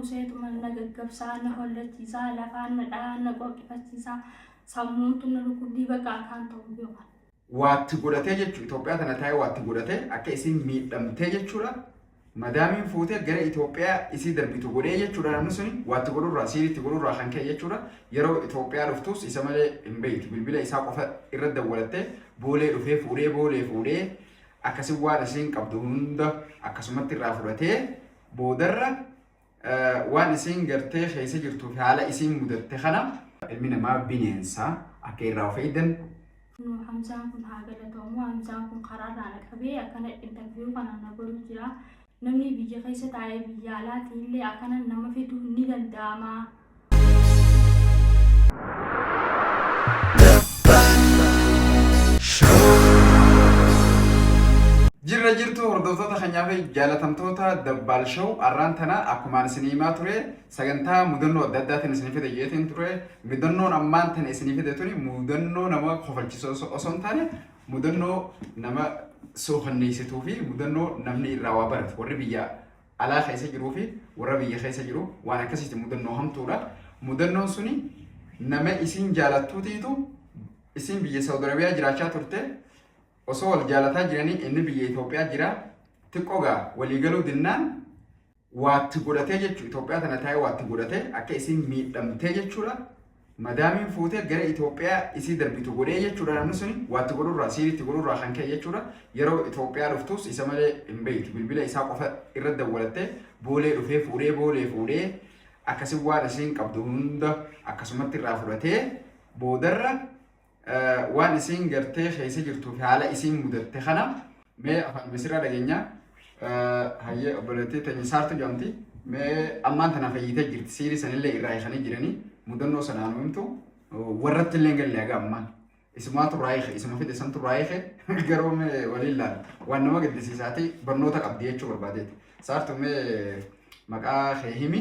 Nuuseetuma na gaggabsaa, na hollachiisaa, lafaan na dhahaa, na qooqifachiisaa, sammuuntu na dhukkubdii bakka akaan ta'u beeku. Waatti godhatee jechuun Itoophiyaa tana taa'ee waatti godhatee akka isiin miidhamtee jechuudha. Madaamiin fuutee gara Itoophiyaa isii darbitu godhee jechuudha namni suni waatti godhurraa siiriitti godhurraa kan ka'e jechuudha. Yeroo Itoophiyaa dhuftuus isa malee hin beektu bilbila isaa qofa irra dawwalattee boolee dhufee fuudhee boolee fuudhee akkasi waan isiin qabdu hunda akkasumatti irraa fudhatee Boodarra waan isiin gartee keessa jirtuuf haala isiin mudatte kana ilmi namaa bineensa akka irraa of eegdan. Kunoo Hamzaan kun haa galatoomu. Hamzaan kun karaarraa na qabee akkana interview kana na godhu jira. Namni biyya keessa taa'ee biyya alaatiillee akkana nama fiduun ni danda'ama. Jirra jirtu hordoftoota keenyaa fi jaalatamtoota Dabbaal Show arraan tana akkumaan isinii himaa ture sagantaa mudannoo adda addaatiin isinii fide jeetiin ture mudannoon ammaan tana isinii fide tuni mudannoo nama kofalchisu osoo osoo hin taane mudannoo nama sookanneessituu fi mudannoo namni irraa waa baratu warri biyyaa alaa keessa jiruu fi warra biyya keessa jiru waan akkasiiti mudannoo hamtuudha. Mudannoon suni nama isiin jaalattuutiitu isiin biyya Saawud Arabiyaa jiraachaa turte osoo wal jaalataa jiranii inni biyya Itoophiyaa jira xiqqoo gaa walii galuu dinnaan waatti godhatee jechuudha. Itoophiyaa tana taa'ee waatti godhatee akka isiin miidhamtee jechuudha. Madaamiin fuutee gara Itoophiyaa isii darbitu godhee jechuudha namni suni waa itti godhurraa siiri itti godhurraa kan ka'e jechuudha yeroo Itoophiyaa dhuftuus isa malee hin beektu bilbila isaa qofa irra dawwalattee boolee dhufee fuudhee boolee fuudhee akkasi waan isiin qabdu hunda akkasumatti irraa fudhatee boodarra Waan isiin gartee keessa jirtuu fi haala isiin mudatte kana mee afaan misirraa dhageenya hayyee obboleettii teenya saartu jedhamti mee ammaan tana fayyitee jirti siirii sanillee irraa hiikanii jiranii mudannoo sanaa nu himtu warratti illee galle haga ammaan isumaatu raayike isuma fide santu raayike garuu mee waliin laala waan nama gaddisiisaati barnoota qabdi jechuu barbaadeeti saartu mee maqaa kee himi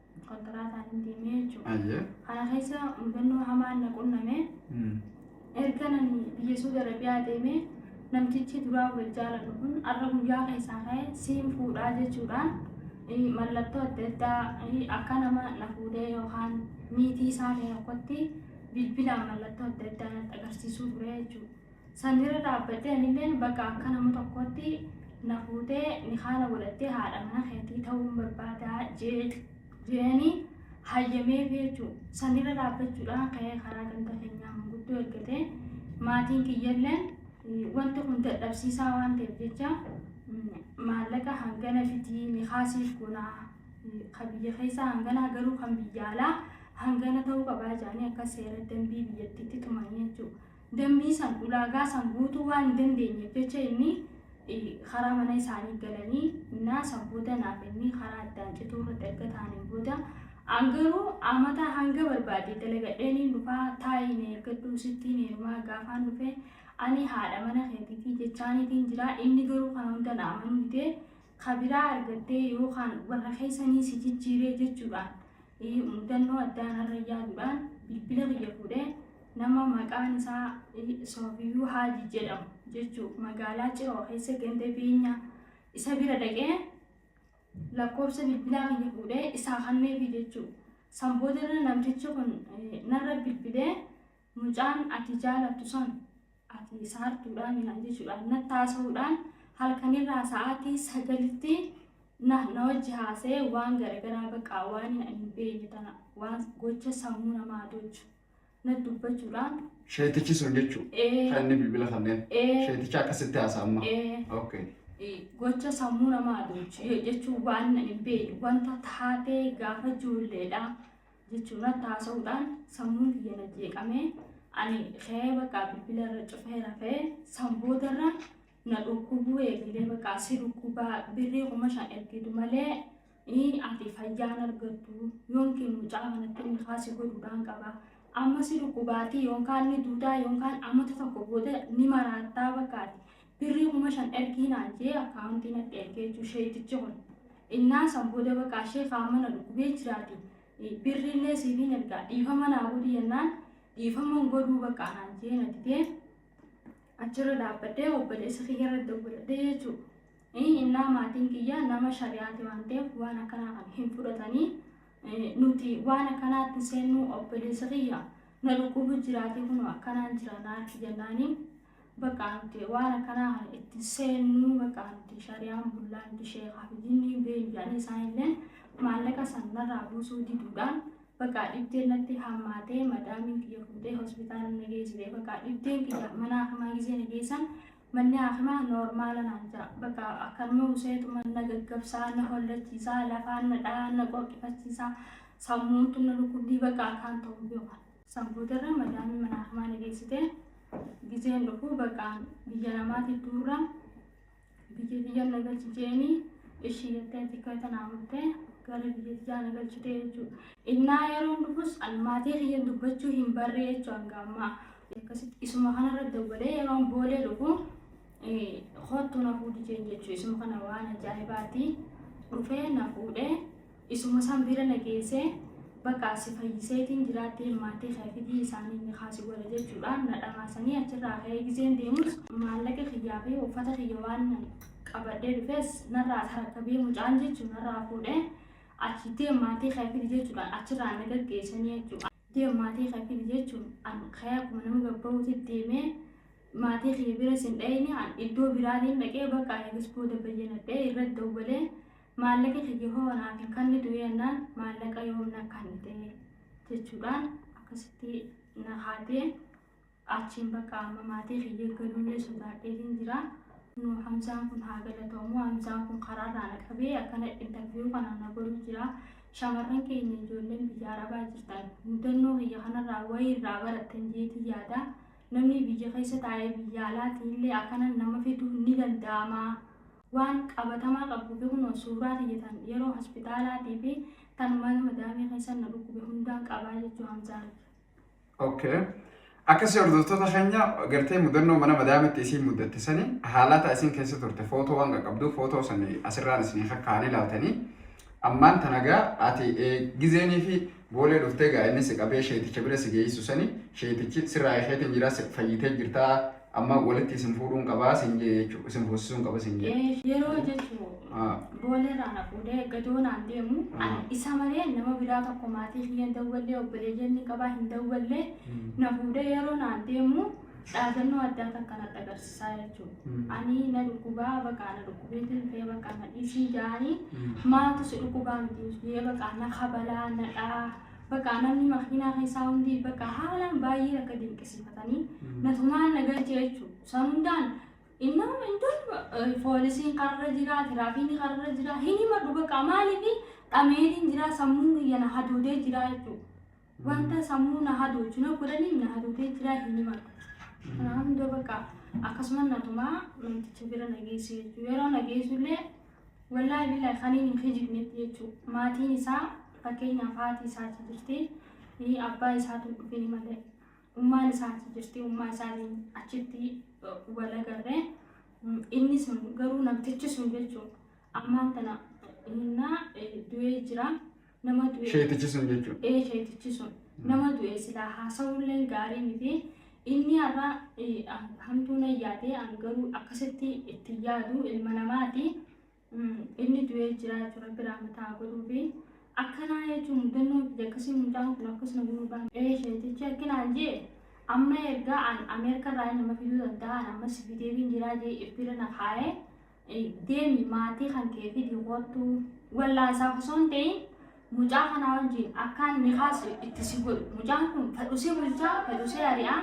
kontiraataan hin deemee jechuudha. Ayyee. Kana keessa mudannoo hamaan na qunname Mm. erga nani biyya Suudi Arabiyaa deemee namtichi duraa wal jaalannu kun har'a guyyaa keessaa ka'e siin fuudhaa jechuudhaan eh, mallattoo adda addaa eh, akka nama na fuudhee yookaan miitii isaa ta'e tokkotti bilbilaan mallattoo adda addaa natti agarsiisuu ture jechuudha. San irra dhaabbattee anilleen bakka akka nama tokkootti na fuutee nikaa na godhattee haadha mana keetii ta'uun barbaadaa jee jeeni hayyameef jechuu san irra dhaabbachuudhaan ka'ee karaa ganda keenyaa manguddoo ergatee maatiin kiyyalleen eh, wanti kun dadhabsiisaa waan ta'eef jecha mm, maallaqa hangana fitii nikaa siif gonaa eh, ka biyya keessaa hangana garuu kan biyya alaa hangana ta'uu qabaa jedhanii akka seera dambii biyyattiitti tumanii jechuudha. Dambii san, ulaagaa san guutuu waan hin dandeenyeef jecha inni karaa mana isaanii galanii naa san booda naaf inni karaa addaan cituu irratti erga ta'aniin booda an garuu amataa hanga barbaade dalagadheenii dhufaa taa'ii na eeggadhuu sittiin heerumaa gaafaan dhufee ani haadha mana keetiitii jechaaniitiin jiraa inni garuu kana hunda na amanuu didee ka biraa argattee yookaan warra keessanii si jijjiiree jechuudhaan eh, mudannoo addaan har'a yaaduudhaan bilbila kiyya fuudhee nama maqaan isaa eh, Soofiyuu Haaji jedhamu jechuun magaalaa Ciroo keessa ganda beenyaa isa bira dhaqee lakkoofsa bilbilaa kiyya fuudhee isaa kanneefi jechuudha. San boodarra namtichi kun eh, narra bilbilee Mucaan ati jaalattu san ati saartuudhaami naan jechuudhaan natti haasa'uudhaan halkanirraa sa'aatii sagalitti na na wajji haasa'ee waan garagaraa baqa waan ani hin beekne tana waan gocha sammuu namaa adoochu natti dubbachuudhaan Sheetichi sun jechuu ee kan inni bilbila kanneen ee sheeticha akkasitti haasa amma. ee Okay. ee, gocha sammuu namaa adoochu jechuun waan ani hin beekne wanta taatee gaafa ijoolleedha jechuun irratti haasa'uudhaan sammuun kiyya na jeeqamee ani ka'ee bakka bilbila irra cufee rafee san boodarra na dhukkubuu eegalee bakka si dhukkubaa birrii kuma shan ergitu malee ii ati fayyaan argattu yookiin mucaa kanatti inni kaasi godhuudhaan qaba amma si dhukkubaatii yookaan ni duutaa yookaan ammatu tokko booda ni maraattaa bakka ati Birrii kuma shan ergii naan jee akkaawuntii natti ergee jechuu sheeytichi kun. Innaa san booda baqaa sheekaa amma na dhukkubee jiraati birrii illee siifiin ergaa dhiifama naa godhi jennaan dhiifaman godhuu baqaa naan jee na didee achirra dhaabbadhee obboleessa kiyya irra dawwaladhee jechuu. Innaa maatiin kiyya nama shari'aati waan ta'eef waan akkanaa kan hin fudhatanii nuti waan akkanaatti seennuu obboleessa kiyya na dhukkubu jiraatee kunoo akkanaan jira naatti jennaanii Baqaa nuti waan akkanaa kana itti hin seennuu baqaa nuti shariyaan bullaa nuti sheekaa fi jinnii beeynu jedhanii isaan illeen maallaqa san narraa buusuu diduudhaan baqaa dhibdeen natti hammaatee madaamiin kiyya fuutee hospitaala na geessite baqaa dhibdeen kiyya mana hakimaa gizee na geessan manni hakimaa noormaala naan jira baqaa akkanuma useetuma na gaggabsaa na hollachiisaa lafaan na dhahaa na qorqifachiisaa sammuun tun na dhukkubdii baqaa akkaan ta'uu beekan. San boodarra madaamiin manaa fi maana geessite gizeen dhufu baqaan biyya namaati duurra biyya biyya na galchi jeeni ishii jettee xiqqoo tanaa murtee gara biyya biyyaa na galchite jechuudha. Innaa yeroon dhufus an maatii kiyyan dubbachuu hin barree jechuu hanga ammaa. Akkasitti isuma kanarra dawwalee yeroon boolee dhufu kottu na fuudhi jeen jechuu isuma kana waan ajaa'ibaati dhufee na fuudhee Isuma san bira na geessee, Bakka as si fayyiseetiin jiraattee maatii kee fidii isaaniin nikaa si godha jechuudhaan na dhamaasanii achirraa ka'ee gizeen deemus maallaqa kiyyaa fi uffata kiyya waanan qabadhee dhufes narraa tarakkabee mucaan jechuun narraa fuudhee achitti maatii kee fidi jechuudhaan achirraa na gaggeessanii jechuudha. Deem maatii kee fidi jechuun an ka'ee akkuma nama gabba'uuti deemee maatii kiyya bira sin dhayne an iddoo biraatiin dhaqee bakka anis booda bayyanadhee irra dawwalee maallaqa kiyya hoo naaf hin kannitu jennaan maallaqa yoom na kannite jechuudhaan akkasitti na kaatee Achiin bakka amma maatii kiyya galullee sodaadheetiin jira. Kunoo Hamzaan kun haa galatoomu. Hamzaan kun karaarraa na qabee akkana interviyuu kana na godhu jira. Shamarran keenya ijoolleen biyya arabaa jirtan mudannoo kiyya kanarraa wayii irraa barattan jeetii yaada. Namni biyya keessa taa'ee biyya alaatii illee akkana nama fiduu ni danda'ama. Waan qabatamaa qabu kunoo suuraa kiyya tan yeroo hospitaalaatii fi tan mana madaamii keessa na dhukkube hundaan qabaa jechuu Hamzaan. Okay. Akkasii hordoftoota keenya gartee mudannoo mana madaamitti isiin muddatte sani haalaataa isiin keessa turte footoo waan qaqqabduuf footoo sani asirraan isinii kakkaa'anii laaltanii ammaan tana gaa ati gizeenii fi boolee dhuftee gaa inni si qabee sheeticha bira si geessu sani sheetichi sirraa eekeetiin jira fayyitee jirtaa Amma walitti isin fuudhuun qabaa siin jee jechuudha. Isin fuusisuun qaba siin jee. Eh, yeroo jechuun Ah. booleerraa na fuudhee gadoo naan deemu ani isa malee nama biraa tokko maatii kiyya hin dawwallee obboleeyyan ni qabaa hin dawwallee na fuudhee yeroo naan deemu dhaadannoo addaa takka natti agarsiisaa jechuudha. Mm. Ani na dhukkubaa baqaa na dhukkubeetiin ta'ee baqaa na dhiisii jaanii Mm. maatu si dhukkubaa miti yee baqaa na kabalaa na dhaa Bakka namni makiinaa keessaa hundi bakka haalaan baay'ee akka dinqisiifatanii natumaan na galche jechuudha. San hundaan innama iddoo poolisiin karra jira, tiraafiinni karra jira, hin himadhu bakka maaliif dhameetiin jira sammuun kiyya na hadoodee jira jechuudha. Wanta sammuu na hadoochu na godhaniif na hadoodee jira hin himadhu. Kanaa hunda bakka akkasuma natumaa namticha bira na geesse jechuudha. Yeroo na geessullee Wallaahi billaahi kaniin hin kijibnetti jechuu maatiin isaa fakkeenyaaf haati isaa achi jirti eh, abbaa isaatu hin dhufini malee ummaan isaa achi jirti ummaa isaanii achitti eh, wal agarre Mm, inni sun garuu namtichi sun jechuu ammaan tana innaa eh, du'ee jira. Nama du'e. Sheetichi sun jechuudha. Ee sheetichi sun nama du'e silaa haasa'ullee gaarii miti. Inni har'a eh, ah, hamtuu na yaade an garuu akkasitti itti yaadu ilma namaati. Mm, Inni du'ee jira jechuudha biraa mataa godhuufi. Akkanaa jechuun mudannoon kiyya akkasii mucaan kun akkas na godhuu baana. Ee sheetichi akkinaan jee amma ergaa an Ameerikaa irraa nama fiduu danda'an amma si fideebiin jiraa jee ibbira na kaa'ee. Deemi maatii kan kee fidii koottu. Wallaansaaf osoo hin ta'in mucaa kanaa wajjin akkaan nikaas itti si godhu. Mucaan kun fedhusee bulchaa, fedhusee ari'aa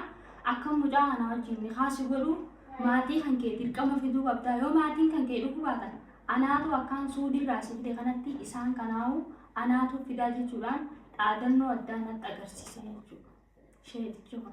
akkan mucaa kanaa wajjin nikaa si godhu maatii kan kee dirqama fiduu qabdaa. Yoo maatiin kan kee dhufuu baatan anaatu akkaan suudiirraa si fide kanatti isaan kanaawu anaatu fidaa jechuudhaan dhaadannoo addaa natti agarsiise jechuudha. Sheexichi kun.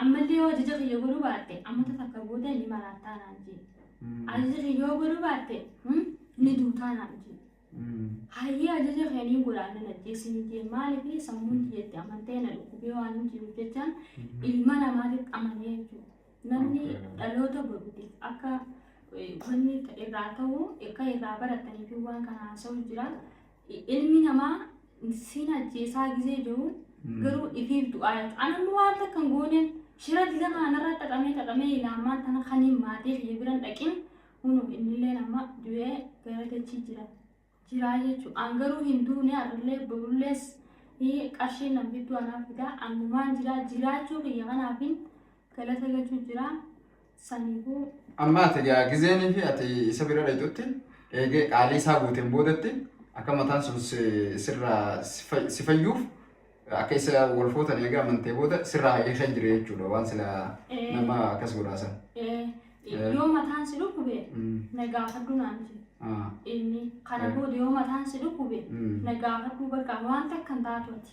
Ammallee yoo ajaja kiyya godhuu baatte amata takka booda ni maraattaa naan jee. Ajaja kiyya yoo godhuu baatte hmm, ni duutaa naan jee. Hayyee ajaja kee niin godha annan ajjeesini jee maaliif sammuun tiyyetti amantee na dhukkubee waan hin jiruuf jechaan ilma namaatitti amanee jechuudha. Namni Okay. dhaloota boruutiif akka eh, wanni ta- irraa ta'u akka irraa barataniif waan kana haasa'u jira. Ilmi namaa siin ajjeesaa gizee jiru garuu ifiif du'aa jechuudha. An amma waan takka hin goone shira diza kana narraa xaxamee xaxamee ilaamaan tana kaniin maatii kiyya biran dhaqin hunu innillee amma du'ee gara dachii jira. Jiraa jechuudha. An garuu hin duune har'illee borullees qarshiin nan fiddu anaaf fidaa annumaan jiraa jiraachuu kiyya kanaafin galata galchuu jiraa. Sanihoo. Amma ati egaa gizeenii fi ati isa bira dhayxutti eegee qaalii isaa guuteen boodatti akka mataan sun sirraa si fayyuuf akka isa wal footan eega amantee booda sirraa hayyee kan jire jechuudha waan sila nama akkas godhaasan. Yoo mataan si dhukkube na gaafadhu naan jedhe inni kana booda yoo mataan si dhukkube na gaafadhu bakka waan takkan taatu ati.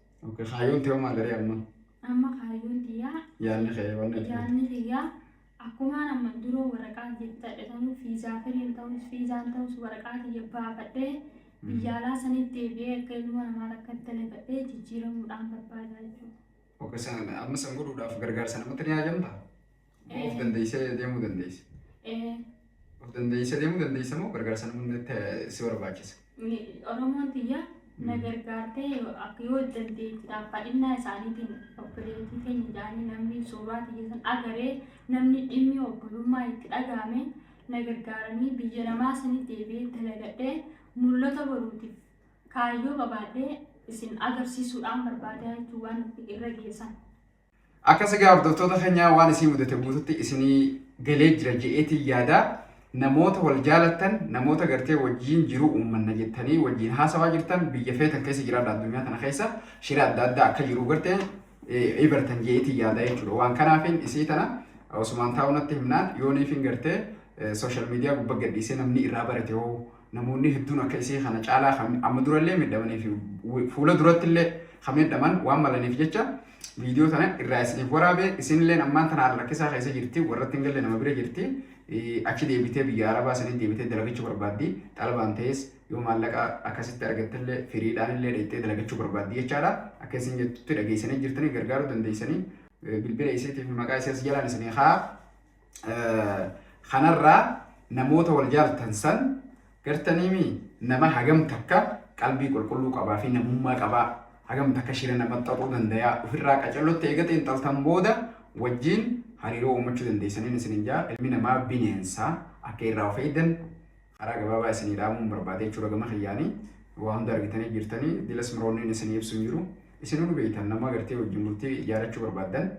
Okay, kaayyoon tee maal ree amma? Amma kaayyoon tiyyaa Yaanni kee waan ati yaanni kiyyaa akkumaan amman duroo waraqaa jettadhe sanuu fiizaa firiin ta'us fiizaan ta'us waraqaa kiyya baafadhee biyya alaa sanitti deebi'ee akka ilmoo namaa takka dalifadhee jijjiiramuudhaan barbaada jechuudha. Okay, san amma san godhuudhaaf gargaarsa namatti ni haajamta? Of dandeessee deemuu dandeessa. Of dandeessee deemuu dandeessa moo gargaarsa namni si barbaachisa? Oromoon tiyya na gargaartee akka yoo dandeettiidhaaf fadhinnaa isaaniitiin obboleettii keenya jaanii namni suuraa tiyya san agaree namni dhimmi obbolummaa itti dhagahame na gargaaranii biyya namaa sanitti deebi'ee dalagadhee mul'ata boruutiif kaayyoo qabaadhee isin agarsiisuudhaan barbaadaa jechuun waan irra geessan. Akkas egaa hordoftoota keenyaa waan isin mudate guututti isinii galee jira je'eetiin yaada. Namoota wal jaalattan, namoota gartee wajjiin jiruu uummanna jettanii wajjiin haasawaa jirtan biyya feetan keessa jiraadha addunyaa tana keessa shira adda addaa akka jiruu gartee ibartan je'eetiin yaada jechuudha. Waan kanaafiin isii tana Osumaan taa'uu natti himnaan yooniifiin gartee sooshaal miidiyaa gubba gadhiisee namni irraa barate hoo Namoonni hedduun akka isii kana caalaa kan amma durallee miidhamanii fi fuula durattillee kan miidhaman waan malaniif jecha viidiyoo tana irraa isiniif waraabe isinilleen ammaan tana haala rakkisaa keessa jirti warratti hin galle nama bira jirti achi deebitee biyya arabaa sanii deebitee dalagachuu barbaaddi xalabaan ta'es yoo maallaqa akkasitti argattillee firiidhaanillee dhayxee dalagachuu barbaaddi jechaadha akka isin jettutti dhageessanii jirtanii gargaaruu dandeessanii bilbila isiitii fi maqaa isii as jalaan isinii haa kanarraa namoota wal jaaltan san gartaniimi nama hagam takka qalbii qulqulluu qabaa fi namummaa qabaa hagam takka shira nama xaxuu dandayaa ofirraa qacellotti eega xiinxaltan booda wajjiin hariiroo uumachuu dandeessaniin isinin jaa ilmi namaa bineensa akka irraa of eegdan Haraa gabaabaa isinii dhaamuun barbaada jechuudha gama kiyyaani waa hunda argitanii jirtani dilas mroonniin isinii ibsu hin jiru isinuu nu beeytan nama gartee wajjin bultii ijaarachuu barbaaddan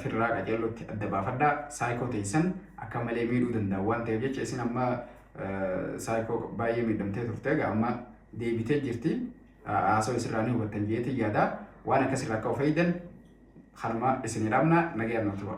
firraa qaceellotti adda baafadhaa saayikoo teeysan akka malee miidhuu danda'a waan ta'eef jecha isin amma saayikoo baay'ee miidhamtee turte egaa amma deebitee jirti haasoo isirraa ni hubattan jeetii yaada waan akkasirraa akka of eeydan kanuma isinii dhaamna nagayaan nuuf tura.